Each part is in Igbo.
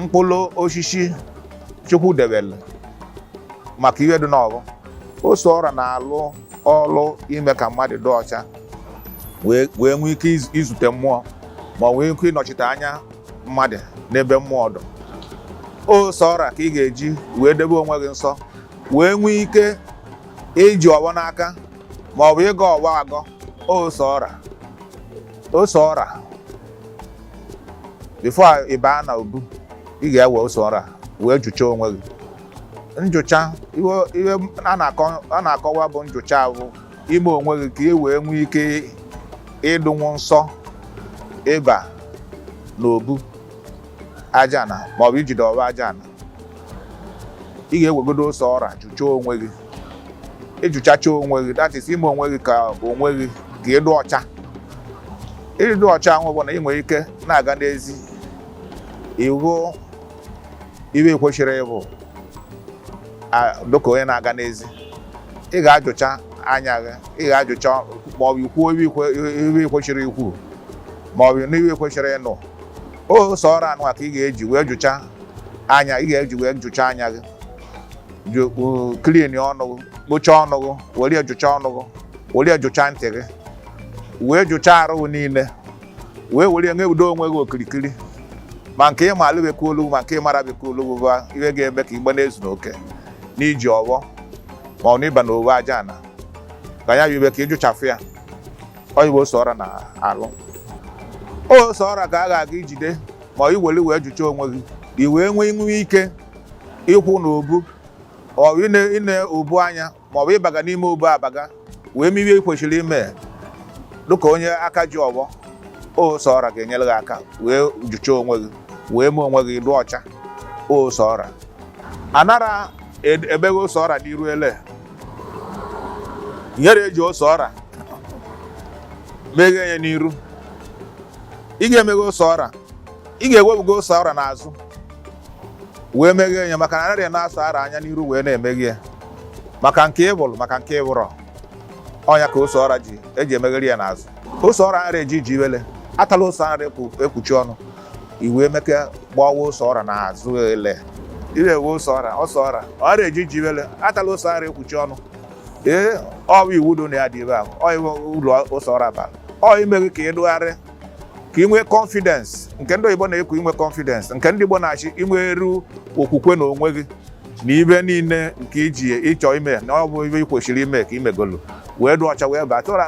mkpụrụ osisi chukwu debere maka ihe dụ n'ọvọ ose ọra na-alụ ọrụ ime ka mmadụ dụ ọcha wee nwee ike izute mmụọ ma ọ nwee ike ịnọchite anya mmadụ n'ebe mmụọ dụ ose ọra ka ị ga-eji wee debe onwe gị nsọ wee nwee ike iji ọvọ n'aka ma ọ bụ ịgọ ọvọ agọ ose ọra ose ọra before ị baa na obu ị ga-ewe ose ọra wee jụcha onwe gị njụcha a na-akọwa bụ njụcha bụ ime onwe gị ka ị wee nwee ike ịdụnwu nsọ ịba na obu ajana maọbụ ijide ọvọ ajana ị ga-ewegodo ose ọra jụcha onwe gị ịjụchacha onwe gị that is ime onwe gị ka onwe gị ka ị dụ ọcha ịdụ ọcha ahụ bụ na ị nwere ike na-aga n'ezi ịvụ ive kwesịrị ịvụ dịka onye na-aga n'ezi ị ga-ajụcha anya gị ị ga-ajụcha ma ọ bụ ikwuo ive kwesịrị ikwu ma ọ bụ n'ive kwesịrị ịnụ ose ọra nwa ka ị ga-eji wee jụcha anya ị ga-eji wee jụcha anya gị clean ọnụ kpochaa ọnụ were jụcha ọnụ were jụcha ntị gị wee jụchaa arụ niile wee were nye udo onwe gị okirikiri ma nke ịma alụbekwa olu ma nke ịmara bekwa olu bụ ihe ga-eme ka igbe na-ezu n'oke n'iji ọvọ ma ọ n'ịba n'obu ajana ka ya yiwe ka ịjụchafụ ya ọ ive ose ọra na-alụ ose ọra ka a ga-aga ijide ma iwere wee jụcha onwe gị i wee nwee inwe ike ịkwụ na obu maọbụ ine obu anya maọbụ ịbaga n'ime obu abaga wee me ive kwesịrị ime dịka onye aka ji ọvọ ose ọra ga-enyere gị aka wee jụchaa onwe gị wee mee onwe gị dụ ọcha ose ọra a nara ebeghe ose ọra n'iru ele nyere eji ose ọra meghee ya n'iru ị ga-emeghe ose ọra ị ga-ewebuga ose ọra n'azụ wee meghee ya maka na anaghị na-asa ara anya n'iru wee na-emeghe ya maka nke ị vụrụ maka nke ị vụrọ ọ ya ka ose ọra ji eji emeghere ya n'azụ ose ọra nara eji ji iwele atala ose nara ekpuchi ọnụ iwe emeke gbawa ose ọra n'azụ ele ire ewe ose ọra ose ọra ọra eji ji iwele atala ose nara ekpuchi ọnụ ee ọ bụ iwu dụ na ya dị ebe ahụ ọ iwe uru ose ọra bara ọ imeghe ka ịdụgharị ka inwe confidence nke ndị oyibo na-ekwu inwe confidence nke ndị Igbo na-asị inweru okwukwe na onwe gị na ibe niile nke iji ịchọ ime na ọ bụ ibe ị kwesịrị ime ka imegolu wee dụ ọcha wee baa tụra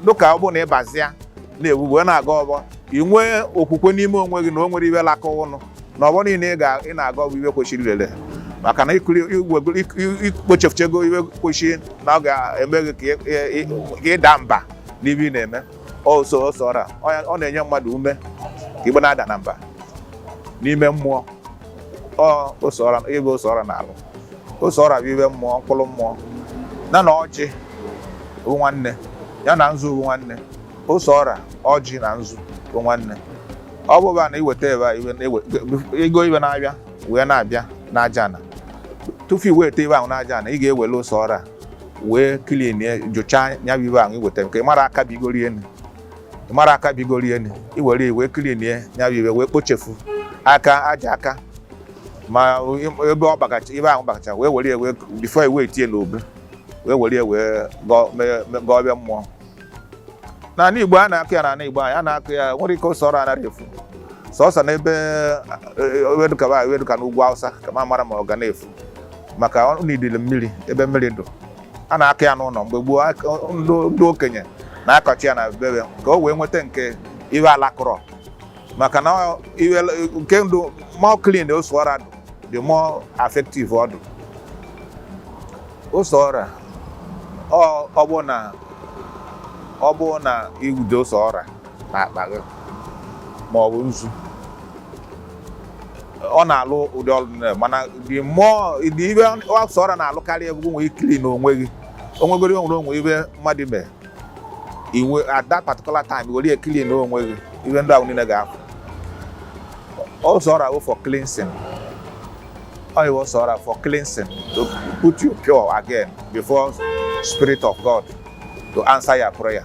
dụka ọ bụ na ịbazia na-ewu wee na-aga ọgbọ inwe okwukwe n'ime onwe gị na o nwere ibe laka ụnụ na ọgbọ niile ị na-aga ọbụ ibe kwesịrị ilele maka na ikpochefuchego ibe kwesịrị na ọ ga-eme gị ka ịda mba n'ibe ị na-eme ose ose ọra ọ na-enye mmadụ ume ka igbe na-ada na mba n'ime mmụọ ọ ose ọra ibe ose ọra na-alụ ose ọra bụ ibe mmụọ mkpụrụ mmụọ na na ọjị bụ nwanne ya na nzu bụ nwanne ose ọra ọjị na nzu bụ nwanne ọ bụba na iweta ebe a ego ibe na-abịa wee na-abịa n'aja ana tupu iweta ibe ahụ n'aja ana ị ga-ewele ose ọra wee clean ya jụchaa ya bụ ibe ahụ iweta nke mara aka bigoro elu mara aka bigoro elu iwere wee clean ya ya bụ ibe wee kpochefu aka aja aka ma ebe ọ bagacha ibe ahụ bagacha wee were ya wee before iwe etinye n'obu wee were ya wee gọọ mmụọ n'ala Igbo a na-akụ ya n'ala Igbo anyị a na-akụ ya nwere ike ose ọra anaghị efu sọsọ n'ebe ebe dụka n'ugwu Hausa ka ma mara ma ọ ga na-efu maka na idili mmiri ebe mmiri dụ a na-akụ ya n'ụlọ mgbe gboo ndị okenye na-akọchi ya na bebe ka o wee nweta nke ibe alakụrọ maka na the more clean ose ọra dụ the more effective ọ dụ ose ọra ọ bụ na ọ bụ na iwude ose ọra na akpa gị ma ọ bụ nzu ọ na-alụ ụdị ọrụ mana ibe ose ọra na-alụkarị bụ iwee clean onwe gị onwegoro onwere onwe ibe mmadụ mee iwe at that particular time were ya clean onwe gị ihe ndị ahụ niile ga-afụ ose ọra bụ for cleansing ose ọra for cleansing to put you pure again before spirit of God to answer your prayer.